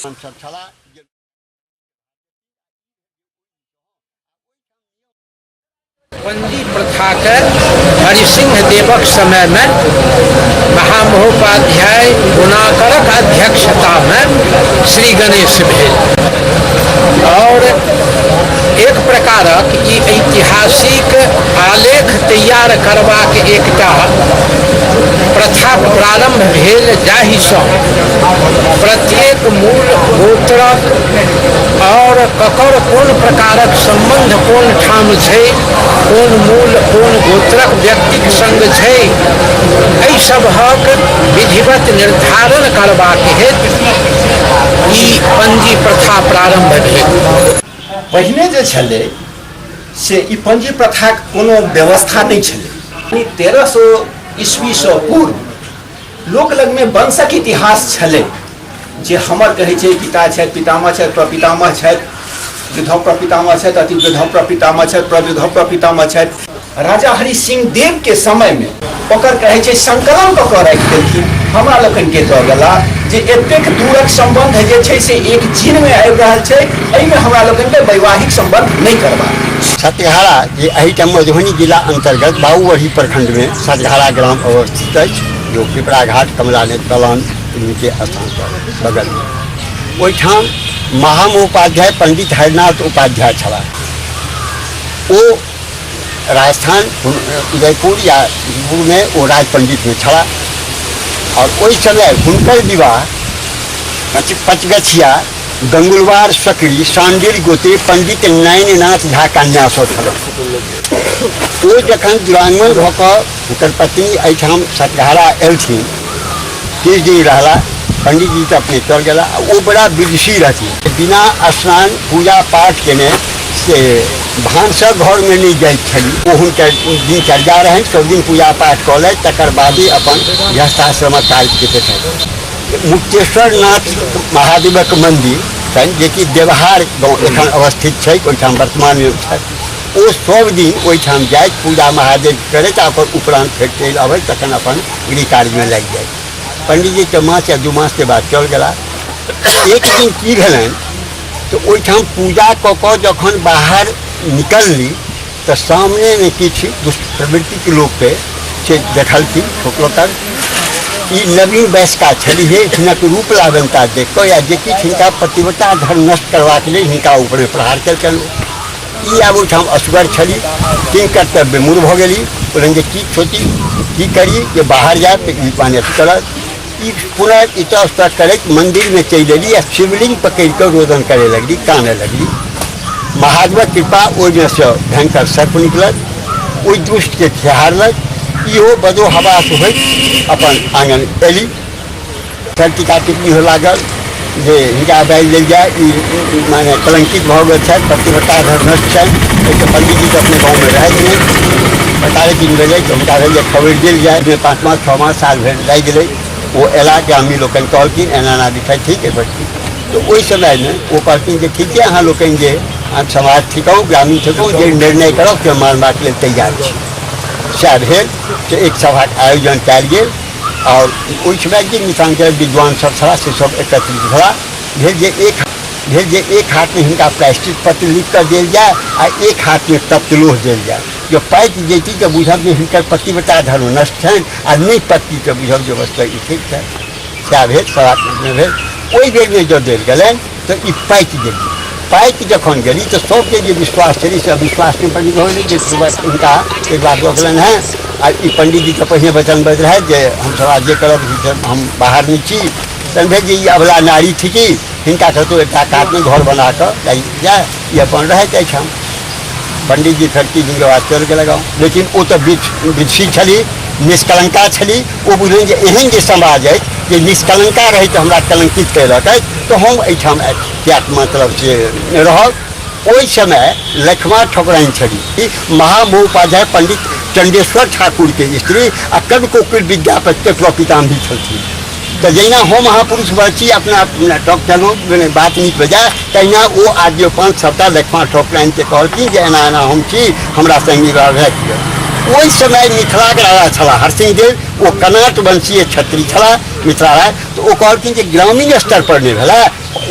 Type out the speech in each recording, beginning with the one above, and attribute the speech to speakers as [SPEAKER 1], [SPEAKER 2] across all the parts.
[SPEAKER 1] सब छला जे बंदी प्रथा के हरिसिंह देवक समय में महामहोपाध्याय गुणाकरक अध्यक्षता में श्री गणेश भेल और एक प्रकारक ई ऐतिहासिक आलेख तैयार करबाक एकटा प्रथा प्रारम्भ भेल जाहिसँ प्रत्येक मूल गोत्रक आओर ककर कोन प्रकारक सम्बन्ध कोन ठाम छै कोन मूल कोन गोत्रक व्यक्तिक सङ्ग छै एहि सभक विधिवत निर्धारण करबाक हेतु ई पंजी प्रथा प्रारम्भ भेल पहिने जे छलै से ई पंजी प्रथाक कोनो व्यवस्था नहि छलै ई तेरह सौ ईस्वीसँ पूर्व लोक लगमे वंशक इतिहास छलै जे हमर कहै छै पिता छथि पितामह छथि प्रपितामह छथि वृद्धौ प्रपितामह छथि अति वृद्धौ प्रपितामह छथि प्रवृद्धौ प्रपितामह छथि राजा हरि सिंह देव के समय में ओकर कहे छै संकलन क के राखि देलखिन हमरा लोकनि के दऽ गेला जे एतेक दूरक संबंध जे छै से एक जीन में आबि रहल छै एहिमे हमरा लोकनि के वैवाहिक संबंध नहि करबाक अछि। सतघारा जे एहिठाम मधुबनी जिला अंतर्गत बाबूवढ़ी प्रखंड में सतघारा ग्राम अवस्थित अछि जो पिपरा घाट कमला ने दलान के स्थान पर बगल में ओहिठाम महामहोपाध्याय पंडित हरिनाथ उपाध्याय छलाह ओ राजस्थान उदयपुर या में ओ राज पंडित में छला और ओहि समय हुनकर विवाह पच पचगछिया गंगुलवार सकरी सांडिल गोते पंडित नयननाथ झा कन्यासँ छलनि ओ जखन दुरागमन भऽ कऽ हुनकर पति एहिठाम सतघारा एलथिन किछु दिन रहला पंडीजी तऽ अपने चल गेला आ ओ बड़ा विदुषी रहथिन बिना स्नान पूजा पाठ केने से भानसक घरमे नहि जाइत छली ओ हुनकर दिनचर्या रहनि सभ दिन पूजा पाठ कऽ लथि तकर बादे अपन गृहस्थाश्रमक कार्यके देखथि मुक्तेश्वर नाथ महादेवक मन्दिर छनि जेकि देवहार गाँव एखन अवस्थित छै ओहिठाम वर्तमानमे छथि ओ सब दिन ओहिठाम जाइत पूजा महादेव करैत आ ओकर उपरान्त फेर चलि अबै तखन अपन गृह कार्यमे लागि जाइत पंडीजीके मास या दू मासके बाद चल गेला एक दिन की भेलनि तऽ ओहिठाम पूजा कऽ कऽ जखन बाहर निकलली तऽ सामनेमे किछु दुष्प्रवृत्तिके लोकके से देखलखिन ठोकलकन ई नवीन वयस्का छलिहे हिनक रूप लावनता देख कऽ या जे किछु हिनका पतिव्रता धर्म नष्ट करबाक लेल हिनका ऊपरमे प्रहार केलकनि ई आब ओहिठाम असगर छली तीन कर्तव्य मूर भऽ गेली कहलनि जे की खेती की करी जे बाहर जायब तऽ ई पानि अथी करत ई पुनः इतस्तः करैत मन्दिरमे चलि एली आ शिवलिंग पकड़ि कऽ रोदन करय लगली कानय लगली महादेवक कृपा ओहिमे सँ भयंकर सर्प निकलत ओहि दुष्टके खेहारलक इहो बदो हवास होइत अपन आङ्गन एली सर टीका टिप्पणी हो लागल जे हिनका हटाइ लेल जाय ई ई माने कलंकित भऽ गेल छथि पतिव्रता धर्मस्थ छनि एहिसँ पंडीजी तऽ अपने गाँवमे रहैत नहि पतारे किन भेलै तऽ हुनका भेल जे खबरि देल जाय जे पाँच मास छओ मास साल भरि लागि गेलै ओ अयला गामी लोकनि कहलखिन एना एना विषय ठीक एहि पर की तऽ ओहि समयमे ओ कहलखिन जे ठीके अहाँ लोकनि जे अहाँ समाज थिकौ ग्रामीण थिकौ जे निर्णय करब से मानबाक लेल तैयार छी सएह भेल से एक सभाक आयोजन कयल गेल आओर ओहिठमा जे मिथिलाञ्चलके विद्वान सब छलाह से सब एकत्रित भेला भेल जे एक भेल जे एक हाथमे हिनका प्रायश्चित पत्र लिख कऽ देल जाय आ एक हाथमे तप्तलोह देल जाय जो पाकि जैती तऽ बुझब जे हिनकर पतिव्रता धर्म नष्ट छनि आ नहि पत्ती तऽ बुझब जे वस्तु ई ठीक छनि सएह भेल पराक्रममे भेल ओहि बेरमे जँ देल गेलनि तऽ ई पाकि गेली पाकि जखन गेली तऽ सभके जे विश्वास छलै से अविश्वास नहि बनि रहल जे हुनका एक बार रोकलनि हेँ आ ई पंडीजीके पहिने वचन बजैत रहथि जे हमसभ आब जे करब हम बाहर नहि छी समझे जे ई अबला नारी थिकी हिनका कतहु एकटा कातमे घर बना कऽ जाय ई अपन रहैत अछि हम पंडित जी खड़की जिनके बाद चल गेल गाँव लेकिन ओ तऽ विधि छली निष्कलंका छली ओ बुझलनि जे एहन जे समाज अछि जे निष्कलंका रहै तऽ हमरा कलंकित कयलक अछि तऽ हम एहिठाम किएक मतलब से रहब ओहि समय लक्ष्मा ठकुराइन छली ई महामहोपाध्याय पंडित चंडेश्वर ठाकुरके स्त्री आ कवि कोकिल विद्यापतिके प्रपितामही छलथिन तऽ जहिना हम अहाँ पुरुष वर्ग छी अपना अपना ठक चलू मने बात नीक हो जाय तहिना ओ आद्य पंथ सभटा लक्ष्मा ठकुराइन के कहलखिन जे एना एना हम छी हमरा संगी रहै ओहि समय मिथिलाक राजा छलाह हरसिंह देव ओ कनाट वंशीय क्षत्रिय छलाह मिथिला राय तऽ ओ कहलखिन जे ग्रामीण स्तर पर नहि भेलै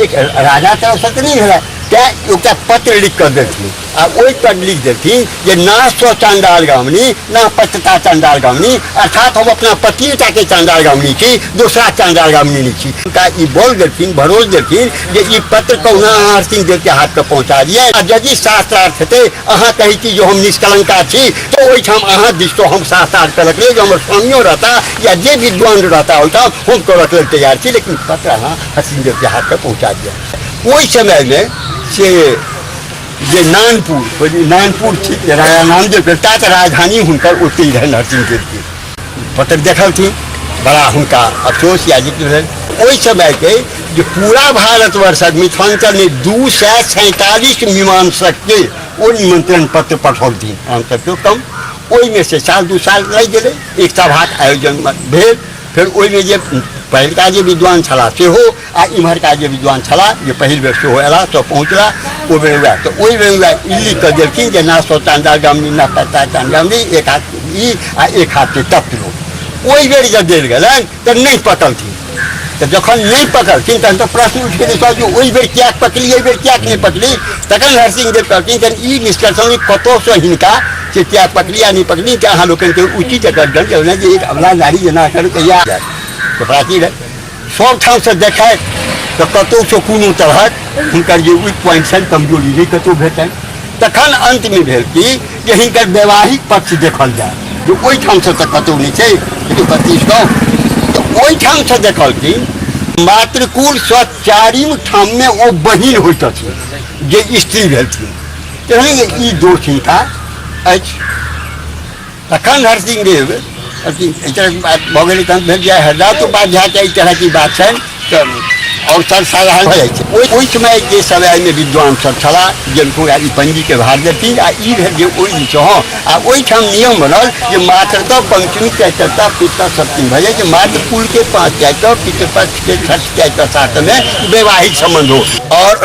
[SPEAKER 1] एक राजा तरफसँ तऽ नहि भेलै तैँ एकटा पत्र लिख कऽ देलखिन आ ओहि पर लिख देलथिन जे ना सौ चांडाल गामनी ना पचता चांडाल गामनी अर्थात हम अपना पतिनता के चांडाल गामनी छी दूसरा चांडाल गामनी नहीं छी उनका ई बोल देलथिन भरोस देलथिन जे ई पत्र कहुना अहाँ हरसिंह देव के हाथ पे पहुंचा दिए आ यदि शास्त्रार्थ हेतै अहाँ कहै छी जे हम निष्कलंका छी तो ओहिठाम अहाँ दिस तो हम शास्त्रार्थ करक लेल जे हमर स्वामियो रहता या जे विद्वान रहता ओहिठाम हम करक लेल तैयार छी लेकिन पत्र अहाँ हरसिंह देव के हाथ पे पहुंचा दिए ओहि समय में से जे नानपुर नानपुर छी राजा नामदेव के तात राजधानी हुनकर ओतहि रहै नरसिंह देवके पत्र देखलथिन बड़ा हुनका अफसोस या जिक्र भेल ओहि समयके जे पूरा भारतवर्षक मिथिलाञ्चलमे दू सए सैंतालिस मीमांसकके ओ निमंत्रण पत्र पठौलथिन हमसभके कम ओहिमे से साल दू साल लागि गेलै एक सभाक आयोजन भेल फेर ओहिमे जे पहिलका जे विद्वान छलाह सेहो आ इम्हरका जे विद्वान छलाह जे पहिल बेर सेहो अयला तऽ पहुँचला ओ बेर वएह तऽ ओहि बेर वएह ई लिख कऽ देलखिन जे ना सौ चांदा गमनी ना पत्ता चांदा गमनी एक हाथ ई आ एक हाथ के तप लो ओहि बेर जब देल गेलनि तऽ नहि पकलथिन तऽ जखन नहि पकड़थिन तहन तऽ प्रश्न उठि गेलै सर जे ओहि बेर किएक पकड़ी एहि बेर किएक नहि पकड़ी तखन हरसिंह देव कहलखिन जे ई निष्कर्षण जे कतहुसँ हिनका से किएक पकड़ी आ नहि पकड़ी कि अहाँ लोकनिके उचित एकर दंड देलहुँ जे एक अबला नारी जेना एकर कहिया जायत तऽ प्राचीन सब ठाम से देखाय तऽ कतौ से कोनो तरहक हिनकर जे वीक पॉइंट छनि कमजोरी जे कतौ भेटनि तखन अंतमे भेल कि जे हिनकर वैवाहिक पक्ष देखल जाय जे ओहिठाम से तऽ कतौ नहि छै लेकिन पच्चीस गाँव तऽ ओहिठाम से देखलखिन मातृकुल सँ चारिम ठाममे ओ बहिन होइत अछि जे स्त्री भेलखिन एहन ई दोष हिनका अछि तखन हर सिंह देव अथी एहि तरहक बात भऽ गेलै तहन भेल जे हरदास उपाध्यायके एहि तरहके बात छनि तऽ आओर सर साधारण भऽ जाइ छै ओहि ओहि समय जे सब एहिमे विद्वान सब छलाह जिनको ई पंजीके भार देथिन आ ई भेल जे ओहि दिनसँ हँ आ ओहिठाम नियम बनल जे मात्र तऽ पंचमी चैतरता पितर सप्तमी भऽ जाइ छै मात्र कुलके पाँच चैतर पितृपक्षके छठ चैतर सातमे वैवाहिक सम्बन्ध हो आओर